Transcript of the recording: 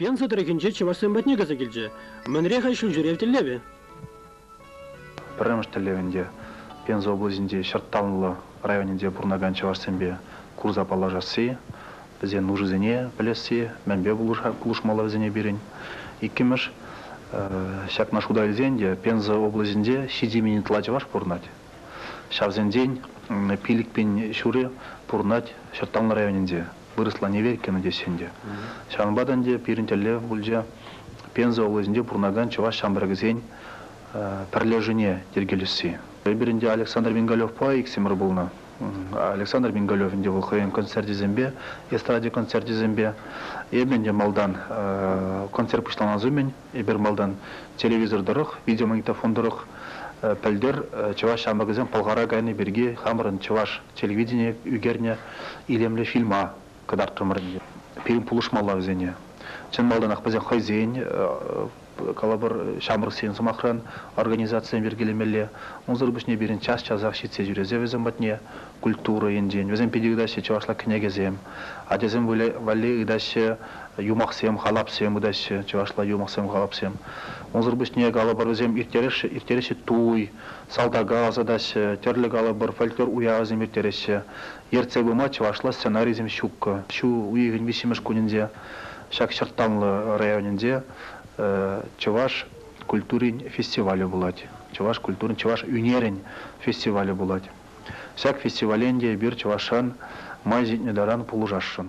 Пенса тӑрӑхӗнче чӑвашсем патне кайса килчӗ. Мӗнре-ха ҫулҫӳрев тӗллевӗ? Пӗрремӗш тӗллев ӗнтӗ Пенза облаҫӗнчи Ҫӑртталлӑ районӗнче пурӑнакан чӑвашсемпе курса паллашасси, вӗсен нушисене пӗлесси, мӗнпе пулӑшмалла вӗсене пирӗн. Иккӗмӗш, ҫакна шута илсен те Пенза облаҫӗнче ҫичӗ мӗн ытла чӑваш пурӑнать. Ҫавсенчен Пилӗкпин ҫурӗ пурӑнать Ҫӑрттанлӑ районӗнче. Вырӑсла Неверкино теҫҫӗ ӗнтӗ. Ҫавӑнпа та ӗнтӗ пирӗн тӗллев пулчӗ Пенза облаҫӗнче пурӑнакан чӑваш ҫамрӑкӗсен пӗрлешӗвне йӗркелесси. Эпир ӗнтӗ Александр Бенгалевпа иксӗмӗр пулнӑ. Александр Бенгалев ӗнтӗ вӑл хӑйӗн концерчӗсемпе, эстрада концерчӗсемпе. Эпӗ ӗнтӗ малтан концерт пуҫланас умӗн Эпир малтан телевизор тӑрӑх, видеомагнитофон тӑрӑх пӗлтӗр чӑваш ҫамрӑкӗсем Пӑлхара кайни пирки хамӑрӑн чӑваш телевиденийӗ ӳкернӗ илемлӗ фильма кӑтартрӑмӑр ӗнтӗ. Пирӗн пулӑшмалла вӗсене. Чӑн малтанах вӗсем хӑйсен, калӑпӑр, ҫамрӑксен, сӑмахран, организацисем йӗркелемелле. Унсӑр пуҫне пирӗн час-часах ҫитсе ҫӳресе вӗсем патне культура енчен. Вӗсем питӗ ыйтаҫҫӗ чӑвашла кӗнекесем. Ачасем валли ыйтаҫҫӗ юмахсем, халапсем ытаҫҫӗ, чӑвашла юмахсем-халапсем. Унсӑр пуҫне калӑпӑр, вӗсем ирттереҫҫӗ туй, салтака ӑсатаҫҫӗ, тӗрлӗ калӑпӑр, фольклор уявӗсем ирттереҫҫӗ. Ертсе пыма чӑвашла сценарийсем ҫук. Ҫу уйӑхӗн виҫҫӗмӗш кунӗнче ҫак чӑрттанлӑ районӗнче чӑваш культурин фестивалӗ пулать. Чӑваш культурин, чӑваш ӳнерӗн фестивалӗ пулать. Ҫак фестивале ӗнтӗ эпир чӑвашран май ҫитнӗ таран пулӑшасшӑн.